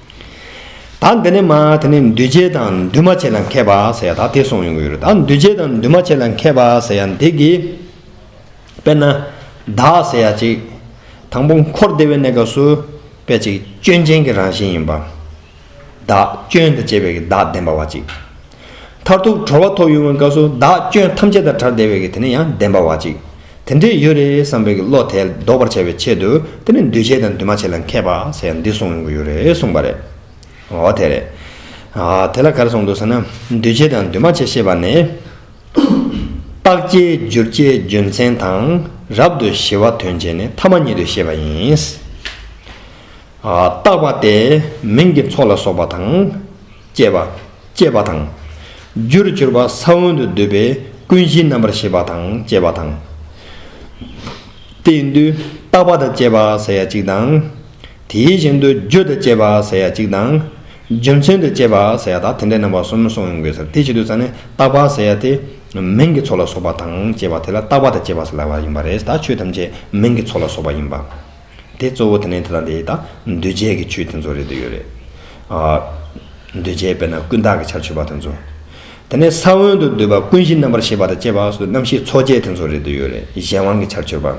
ད་འདི་ནི་མ་དེ་ནི་འདུས་བྱས་དང་འདུས་མ་བྱས་ལ་མཁས་པ་ཟེར་ཡ་ད་དེ་གསུངས་ཡོང་གི་ཡོད་རེད་ད་འདུས་བྱས་དང་འདུས་མ་བྱས་ལ་མཁས་པ་ཟེར་ཡ་འདི་གི། དཔེར་ན། བདག་ཟེར་ཡ་ཅིག། དང་པོ་འཁོར་འདས་པའི་གནས་སྐབས་སུ། དཔེ་ཅིག་སྐྱོན་ཅན་གྱི་རང་བཞིན་ཡིན་པ། བདག་སྐྱོན་དང་བཅས་པའི་བདག་བདེན་པ་བ་ཅིག། མཐར་ཐུག་གྲོལ་བ་ཐོབ་ཡོང་བའི་སྐབས་སུ་བདག་སྐྱོན་ཐམས་ཅད་དང་བྲལ་བདེ་བའི་གི་དེ་ནི་ཡང་བདེན་པ་བ་ཅིག་དེ་འདྲས་ཡོད་རེད་བསམ་པའི་གི་བློ་དེ་ལྡོག་པར་བྱ་བའི་ཆེད་དུ་དེ་ནི་འདུས་བྱས་དང་འདུས་མ་བྱས་ལ་མཁས་པ་ཟེར་ཡང་འདི་གསུངས་ཡོང་གི་ཡོད་རེད་གསུངས་པ་རེད། འོ་དེ་རེད། དེ་ལ་གར་སོང་འདུག་ཟེར་ན་འདུས་བྱས་དང་འདུས་མ་བྱས་ཤེས་པ་ནས། རྟགས་བཅས་བསྒྱུར་བཅས་རྒྱུ་མཚན་དང་རབ་ཏུ་ཞི་བ་དོན་བྱེད་ནི་ཐ་མ་ཉིད་དུ་ཤེས་པ་ཡིན། རྟགས་པ་སྟེ་མིང་གི་ཚོགས་ལ་སོགས་པ་དང། སྐྱེས་པ། སྐྱེས་པ་དང། རྒྱུར་གྱུར་པ་ས་བོན་དུ་འདོད་པའི་ཀུན་གཞིའི་རྣམ་པར་ཤེས་པ་དང་བཅས་པ་དང། དེའི་འདུས་རྟག་པ་དང་བཅས་པ་ཟེར་ཡ་གཅིག་དང། དེའི་བཞིན་དུ་རྒྱུ་དང་བཅས་པ་ཟེར་ཡ་གཅིག་དང། རྒྱུ་མཚན་དང་བཅས་པ་ཟེར་ཡ་དག་དེ་འདྲའི་རྣམ་པ་གསུམ་གསུངས་ཡོང་དགོས་ཟེར་དེ་བཞིན་དུ་ས་ནི་རྟག་པ་ཟེར་ཡ་དེ། མིང་གི་ཚོགས་ལ་སོགས་པ་དང་བཅས་པ་དེ་ལ་རྟག་པ་དང་བཅས་པ་ཟེར་ལ་བ་ཡིན་པ་རེད་ད་ཆོས་ཐམས་ཅད་མིང་གི་ཚོགས་ལ་སོགས་པ་ཡིན་པ། དེ་གཙོ་བོ་དེ་ནས་དེ་དང་དེའི་དང། འདུས་བྱས་ཀྱི་ཆོས་དེ་ཚོ་རེད་དུ་ཡོད་རེད། འདུས་བྱས་དཔེར་ན་ཀུན་བརྟགས་ཀྱི་ཆར་ཆུད་པ་དེ་ཚོ། དེ་ནས་ས་བོན་དུ་འདུས་པ་ཀུན་གཞི་རྣམ་པར་ཤེས་པ་དང་བཅས་པ་སོགས་རྣམ་ཤེས་ཚོགས་བརྒྱད་དེ་ཚོ་རེད་དུ་ཡོད་རེད་གཞན་དབང་གི་ཆར་ཆུད་པ།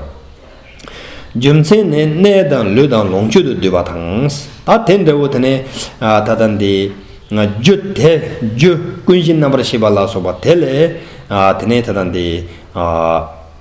རྒྱུ་མཚན་ནི་གནས་དང་ལུས་དང་ལོངས་སྤྱོད་དུ་འདུས་པ་དང། ད་དེ་འདྲ་བོ་དེ་ནས་ད་ལྟ་འདི། རྒྱུ་དེ་རྒྱུ་ཀུན་གཞི་རྣམ་པར་ཤེས་པ་ལ་སོགས་པ་དེ་ལས། དེ་ནས་དེ་དང་དེའི།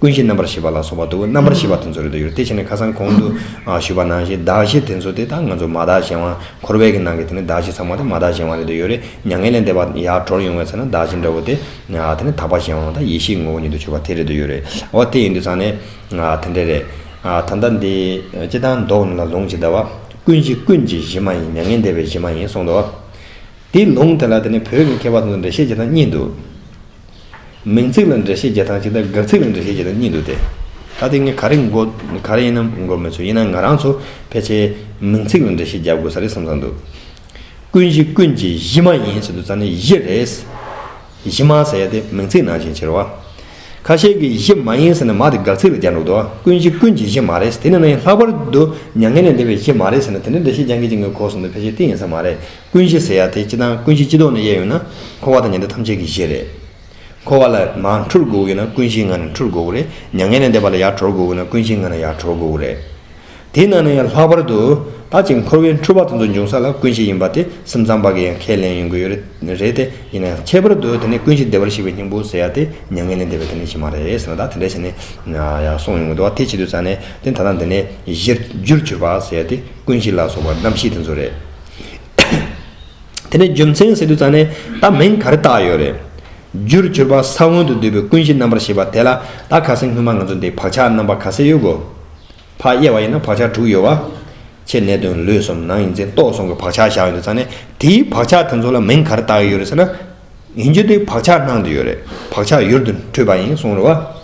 ཀུན་གཞི་རྣམ་པར་ཤེས་པ་ལ་སོགས་པ་དུ་བ་རྣམ་པར་ཤེས་པ་དེ་ཚོར་རེ་དོགས་ཡོད་དེ་བྱས་ནས་ཁ་སང་གོང་དུ་ཞུས་པ་ནང་བཞིན་བདག་གཞན་དེ་ཚོ་དེ་དག་ང་ཚོ་མ་དག་གཞན་དབང་འཁོར་བས་ཀྱི་ནང་གི་དེ་ནི་བདག་གཞན་ཚང་མ་དེ་མ་དག་གཞན་དབང་རེ་དོགས་ཡོད་རེ་མྱ་ངན་ལས་འདས་པ་ཡར་གྲོར་ཡོང་བའི་ཚེ་ན་བདག་གཞན་འདྲ་བོ་དེ་དེ་ནི་དག་པ་གཞན་དབང་དང་ཡེ་ཤེས་ངོ་བོ་ཉིད་དུ་གྱུར་པ་དེ་རེ་དོགས་ཡོད་རེ་འོ་དེ་ཡིན་དུས་ཚང་ནས་དེ་འདྲ་རེད་ད་ལྟ་འདི་ཅི་ལྟར་འདོགས་ནུས་ལ་ལུང་ཇི་ལྟ་བ། ཀུན་གཞི་ཀུན་གྱི་གཞི་མ་ཡིན་མྱ་ངན་འདས་པའི་གཞི་མ་ཡིན་གསུངས་ཏོ། དེའི་ལུང་དེ་ལ་དེ་ནི་བོད་ཀྱི་མཁས་པ་ཚོ་འགྲེལ་བཤད་བྱེད་སྟངས་གཉིས་འདུག། མིང་ཚིག་ལ་འགྲེལ་བཤད་བརྒྱ་ཐང་གཅིག་དང་འགག་ཚིག་ལ་འགྲེལ་བཤད་བརྒྱ་ཐང་གཉིས་འདུག་སྟེ། ད་དེ་ངས་ག་རེ་འགོ་ག་རེ་ཡིན་ནམ་འགོ་མི་ཚུགས་ཡིན་ན་ང་རང་ཚོ་ཕལ་ཆེར་མིང་ཚིག་ལ་འགྲེལ་བཤད་བརྒྱབ་དགོས་ས་རེད་བསམ་བསམ་འདུག། ཀུན་གཞི་ཀུན་གྱི་གཞི་མ་ཡིན་ཟེར་དུས་རྩ་ནི་གཞི་རེད། གཞི་མ་ཟེར་ཡ་དེ་མིང་ཚིག་ནང་བཞིན་ཕྱིར་བ། ཁ་ཤས་ཀྱིས་གཞི་མ་ཡིན་ཟེར་ན་མ་དེ་འགག་ཚིག་ལ་བརྒྱབ་འདུག་ཏོ། ཀུན་གཞི་ཀུན་གྱི་གཞི་མ་རེད་དེ་ནི་ན་ཡིན་ལྷག་པར་དུ་མྱ་ངན་ལས་འདས་པའི་གཞི་མ་རེད་ཟེར་ན་དེ་འདྲའི་འགྲེལ་བཤད་རྒྱ་འགེལ་གྱི་ངའི་གོ་གསུང་དུ་ཕལ་ཆེར་གཏིང་ཡིན་ས་མ་རེད། ཀུན་གཞི་ཟེར་ཡ་དེ་སྤྱི་དང་ཀུན་གཞི་སྤྱི་ལྡོག་ནས་དབྱེ་ཡོད་ན། འཁོར་བ་དང་ཉི་ཟླ་ཐམས་ཅད་ཀྱི་གཞི་རེད། འཁོར་བ་ལ་མ་འཁྲུལ་དགོས་ཀྱི་ན་ཀུན་གཞིའི་ངང་ནས་འཁྲུལ་དགོས་ཀྱི་རེད། མྱ་ངན་ལས་འདས་པ་ལ་ཡར་གྲོལ་དགོས་ཀྱི་ན་ཀུན་གཞིའི་ངང་ནས་ཡར་གྲོལ་དགོས་ཀྱི་རེད། དེས་ན་ནི་ཡང་ལྷག་པར་དུ། ད་ཅིག་འཁོར་བའི་འཁྲུལ་བ་དེ་ཚོ་འབྱུང་ས་ལ་ཀུན་གཞི་ཡིན་པ་དེ་སེམས་ཙམ་པ་གི་ཡང་ཁས་ལེན་ཡོང་གི་ཡོད་རེད་དེ། ཡིན་ན་ཡང་ཁྱད་པར་དུ་དེ་ནི་ཀུན་གཞི་བདེ་བར་གཤེགས་པའི་སྙིང་པོ་ཟེར་ཡ་དེ་མྱ་ངན་ལས་འདས་པའི་དེ་ནི་གཞི་མ་རེད་ཟེར་ན་ད་དེ་འདྲའི་ཞིག་ནི། ཡང་གསུངས་ཡོང་གི་འདུག་བ་དེ་བྱེད་དུས་ཙང་ནས་དེ་ད་ལྟ་འདི་ནི་གཞིར་རྒྱུར་གྱུར་པ་ཟེར་ཡ་དེ་ཀུན་གཞི་ལ་སོགས་པ་རྣམ་ཤེས་དེ་ཚོ་རེད། དེ་ནས་རྒྱུ་མཚན་ཟེར་དུས་ཙང་ནས་ད་མིང་ག་རེ་བཏགས་ཡོད་རེད། རྒྱུར་གྱུར་པ་ས་བོན་དུ་འདུས་པའི་ཀུན་གཞི་རྣམ་པར་ཤེས་པ་དེ་ལ་ད་ག་ས་སྔོན་མ་ང་ཚོ་འདི་བག་ཆགས་རྣམ་པ་ག་ས་ཡོད་དགོས། ཕག་དབྱེ་བ་ཡིན་ན་བག་ཆགས་དྲུག་ཡོད་བ། ཆེས་གནད་དོན་ལུས་སོམ་ནང་ཡིན་ཚེ་ལྟོགས་སོང་གི་བག་ཆགས་བཞག་ཡོད་དུས་ཙང་ནས་དེའི་བག་ཆགས་དེ་ཚོ་ལ་མིང་ག་རེ་བཏགས་ཡོད་རེད་ཟེར་ན། ཡིན་རྒྱུ་དེ་བག་ཆགས་ནང་དུ་ཡོད་རེད་བག་ཆགས་ཡུལ་དུ་འཁྲུལ་པ་ཡིན་གསུངས་རེད་བ།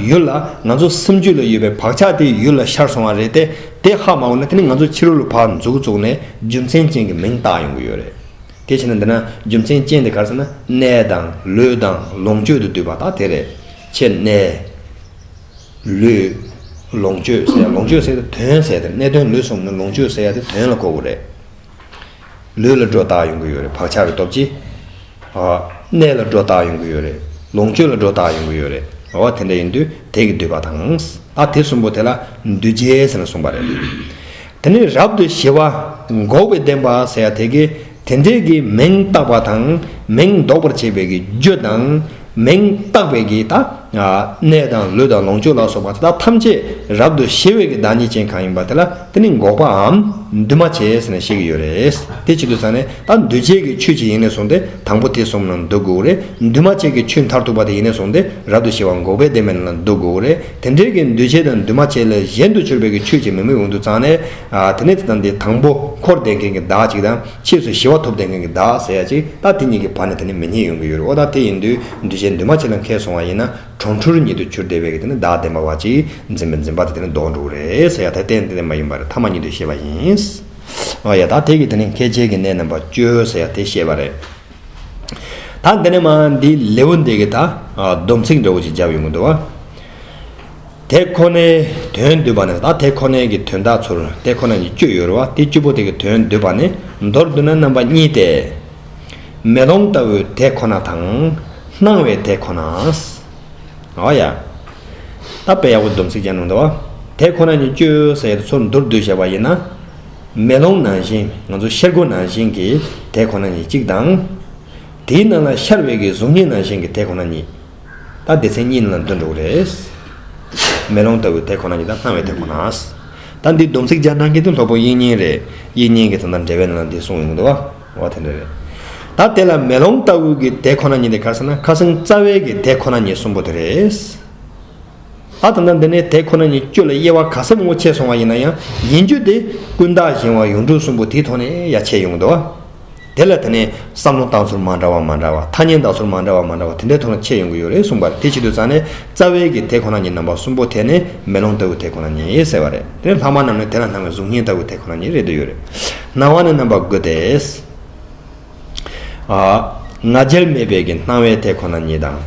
ཡུལ་ལ་ང་ཚོ་སེམས་རྒྱུད་ལ་ཡོད་པའི་བག་ཆགས་དེ་ཡུལ་ལ་ཤར་སོང་བ་རེད་དེ་དེ་ཧ་མ་གོ་ན་དེ་ནི་ང་ཚོ་ཕྱི་རོལ་ལ་བག་འཛུགས་བཙུགས་ནས་རྒྱུ་མཚན་ཅན་གྱི་མིང་བཏགས་ཡོང་གི་ཡོད་རེད། དེ་བྱས་ན་འདི་ན་རྒྱུ་མཚན་ཅན་དེ་ག་རེ་ཟེར་ན་ནད་དང་ལུས་དང་ལོངས་སྤྱོད་དུ་འདུས་པ་དག་དེ་རེད། ཁྱེད་ནད། ལུས། ལོངས་སྤྱོད་ཟེར་ཡ་ལོངས་སྤྱོད་ཟེར་ཡ་དེ་དོན་ཟེར་ཡ་དེ་ནད་དོན་ལུས་གསུམ་ནི་ལོངས་སྤྱོད་ཟེར་ཡ་དེ་དོན་ལ་གོ་དགོས་རེད། ལུས་ལ་སྒྲོ་བཏགས་ཡོང་གི་ཡོད་རེད་བག་ཆགས་ཀྱི་སྟོབས་ཀྱིས། གནས་ལ་སྒྲོ་བཏགས་ཡོང་གི་ཡོད་རེད། ལོངས་སྤྱོད་ལ་སྒྲོ་བཏགས་ཡོང་གི་ཡོད་རེད། འོ་དེ་འདྲ་ཡིན་དུས་དེས་ཀྱི་འདུས་པ་དང། ཨ་དེ་གསུམ་པོ་དེ་ལ་འདུས་བྱས་ཟེར་ནས་གསུངས་པ་རེད། དེ་ནས་རབ་ཏུ་ཞི་བ་འགོག་པའི་བདེན་པ་ཟེར་ཡ་དེ་ཀས་དེ་འདྲས་ཀྱི་མིང་བཏགས་པ་དང་མིང་འདོགས་པར་བྱེད་པའི་ཀྱི་རྒྱུ་དང། མིང་བཏགས་པའི་གེགས་དང། ནད་དང་ལུས་དང་ལོངས་སྤྱོད་ལ་སོགས་པ་དེ་དག་ཐམས་ཅད་རབ་ཏུ་ཞི་བའི་བདག་ཉིད་ཅན་གང་ཡིན་པ་དེ་ལ་དེ་ནི་འགོག་པའམ་འདུས་མ་བྱས་ཟེར་ནས་བཤད་ཀྱི་ཡོད་རེད། དེ་ཇི་ལྟར་ཟེར་ནས་ད་འདུས་བྱས་ཀྱི་ཆོས་ཅི་ཡིན་ནས་བཟུང་སྟེ་དང་པོ་དེ་གསུམ་ལ་འདུ་དགོས་རེད། འདུས་མ་བྱས་ཀྱི་ཆོས་མཐར་ཐུག་པ་དེ་ཡིན་ནས་བཟུང་སྟེ་རབ་ཏུ་ཞི་བ་འགོག་པའི་བདེན་པའི་ལ་འདུ་དགོས་རེད། དེ་འདྲའི་གེགས་འདུས་བྱས་དང་འདུས་མ་བྱས་ལས་གཞན་དུ་གྱུར་པའི་ཆོས་ཀྱི་མིང་མི་འོང་དུ་བརྩམས་ནས། དེ་ནས་དེ་དང་དེ་དང་པོ་འཁོར་འདས་མཁན་གྱི་བདག་ཅིག་དང་ཕྱིས་སུ་ཞི་བ་ཐོབ་བསྟན་མཁན་གྱི་བདག་ཟེར་ཡ་ཅིག་ད་དེ་གཉིས་ཀྱི་བར་ནས་དེ་ནི་མི་གཉིས་ཡོང་གི་ཡོད་རེད་ཨོ་ད་དེ་ཡིན་དུས་འདུས་བྱས་འདུས་མ་བྱས་ལ་མཁས་སོང་བ་ཡིན་ན་གྲོང་ཁྲུར་ཉིད་དུ་གྱུར་བདེ་བས་ཀྱི་དེ་ནི་བདག་བདེན་པ་བ་ཅིག་འཛིན་པའི་འཛིན་པ་དེ་དེ་ནི་ལྡོག་འགྲོ་གི་རེད་ཟེར་ཡ་ད་དེ་དེ་མ་ཡིན་པར་ཐ་མ་ཉིད་དུ་ཤེས་པ་ཡིན། ཨོ་ཡ་ད་དེ་ཀྱི་དེ་ནི་མཁས་བྱའི་གྱི་གནས་རྣམ་པར་སྤྱོད་ཟེར་ཡ་དེ་ཤེས་པ་རེད། ད་འདི་ནས་མ་འདིའི་ལེའུ་འདི་གི་ད་སྡོམ་ཚིག་འདྲ་བོ་ཅིག་བརྒྱབ་ཡོང་གི་འདུག་བ། དེ་ཁོ་ནའི་དོན་འདོད་པ་ནས་ད་དེ་ཁོ་ནའི་གི་དོན་དག་ཚོར་དེ་ཁོ་ན་ཉིད་སྤྱོད་ཡོད་རུང་བ་དེ་བཅུ་པོ་དེ་གི་དོན་འདོད་པ་ནས་མདོར་བསྡུ་ན་རྣམ་པ་གཉིས་ཏེ། མེ་ལོང་ལྟ་བུའི་དེ་ཁོ་ན་དང། སྣང་བའི་དེ་ཁོ་ནའོ། ཨོ་ཡ། ད་དཔེ་ཡག་པོ་སྡོམ་ཚིག་ཅན་ནང་དུ། དེ་ཁོ་ན་ཉིད་སྤྱོད་ཟེར་ཚུར་མདོར་བསྡུས་བྱས་པ་ཡིན་ན། མེ་ལོང་ནང་བཞིན་ང་ཚོ་ཤར་སྒོ་ནང་བཞིན་གྱི་དེ་ཁོ་ན་ཉིད་གཅིག་དང། དེའི་ནང་ལ་ཤར་བའི་གི་གཟུགས་བརྙན་ནང་བཞིན་གྱི་དེ་ཁོ་ན་ཉིད། ད་སྡེ་ཚན་གཉིས་ནང་ལ་འདོན་འགྲོ་གི་རེད། མེ་ལོང་ལྟ་བུའི་དེ་ཁོ་ན་ཡིན་དང་སྣང་བའི་དེ་ཁོ་ན། ད་འདིའི་སྡོམ་ཚིག་སྦྱར་ན་གལ་ཏེ་ལྷོག་པོ་དབྱིག་གཉེན་རེད་དབྱིག་གཉེན་གྱི་དོན་དང་འབྲེལ་བའི་ནང་ལ་འདི་གསུངས་ཡོང་གི་འདུག་བ་དེ་འདྲ་རེད། ད་དེ་ལ་མེ་ལོང་ལྟ་བུའི་གི་དེ་ཁོ་ན་ཉིད་དེ་ག་ཟེར་ན་ཁ་སང་རྩ་བའི་གི་དེ་ཁོ་ན་ཉིད་གསུམ་པོ་དེ་རེད། ད་ད་ལྟ་འདི་ནས་དེ་ཁོ་ན་ཉིད་སྤྱོད་ལ་དབྱེ་བ་ག་ཟེ་མོ་ཕྱེ་སོང་བ་ཡིན་ན་ཡང་ཡིན་རྒྱུ་དེ་ཀུན་བརྟགས་གཞན་དབང་ཡུངས་འབྲུ་གསུམ་པོ་དེའི་ཐོག་ནས་ཡ་ཕྱེ་ཡོང་གི་འདུག་བ། དེ་ལ་དེ་ནས་བསམ་བློ་བཏང་ཚུར་མ་འདྲ་བ་མ་འདྲ་བ་ཐ་སྙད་འདང་ཚུར་མ་འདྲ་བ་མ་འདྲ་བ་དེ་འདྲའི་ཐོག་ན་ཁྱེད་ཡོང་གི་ཡོད་རེད་གསུངས་པར་དེ་ཕྱི་དུ་ཙང་ནས་རྩ་བའི་གི་དེ་ཁོ་ན་ཉིད་རྣམ་པ་གསུམ་པོ་དེ་ནི་མེ་ལོང་ལྟ་བུ་དེ་ཁོ་ན་ཉིད་ཟེར་བ་རེད་དེ་ནས་ལྷག་མ་རྣམས་ནི་དེ་ལ་སྣང་བའི་གཟུགས་བརྙན་ལྟ་བུ་དེ་ཁོ་ན་ཉིད་རེད་འདོད་ཡོད་རེད། སྣང་བ་ནི་རྣམ་པ་དགུ་སྟེ། ང་རྒྱལ་མེད་པའི་གི་སྣང་བའི་དེ་ཁོ་ན་ཉིད་དང།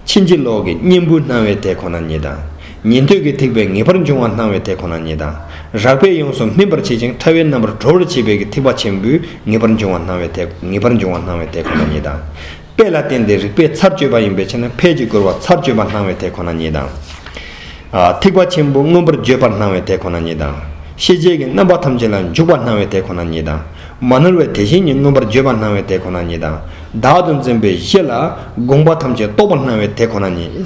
ཕྱིན་ཅི་ལོག་གི་གཉེན་པོའི་སྣང་བའི་དེ་ཁོ་ན་ཉིད་དང། ཉན་ཐོས་ཀྱི་ཐེག་པའི་ངེས་པར་འབྱུང་བ་སྣང་བའི་དེ་ཁོ་ན་ཉིད་དང། རགས་པས་ཡོངས་སུ་སྨིན་པར་བྱེད་ཅིང་ཕྲ་བའི་རྣམ་པར་གྲོལ་བར་བྱེད་པའི་ཀྱི་ཐེག་པ་ཆེན་པོའི་ངེས་པར་འབྱུང་བ་སྣང་བའི་དེ་ངེས་པར་འབྱུང་བ་སྣང་བའི་དེ་ཁོ་ན་ཉིད་དང། དཔེ་ལ་བརྟེན་ཏེ་རིགས་པས་ཚར་གཅོད་པ་ཡིན་པའི་ཕྱིར་ན་ཕས་ཀྱི་རྒོལ་བ་ཚར་གཅོད་པ་སྣང་བའི་དེ་ཁོ་ན་ཉིད་དང། ཐེག་པ་ཆེན་པོ་མངོན་པར་བརྗོད་པར་སྣང་བའི་དེ་ཁོ་ན་ཉིད་དང། ཤེས་བྱེད་ཀྱི་རྣམ་པ་ཐམས་ཅད་ལ་འཇུག་པར་སྣང་བའི་དེ་ཁོ་ན་ཉིད་དང། མ་ནོར་བའི་དེ་བཞིན་ཉིད་མངོན་པར་བརྗོད་པར་སྣང་བའི་དེ་ཁོ་ན་ཉིད་དང། བདག་ཏུ་འཛིན་པའི་གཞི་ལ་དགོངས་པ་ཐམས་ཅད་རྟོགས་པར་སྣང་བའི་དེ་ཁོ་ན་ཉིད།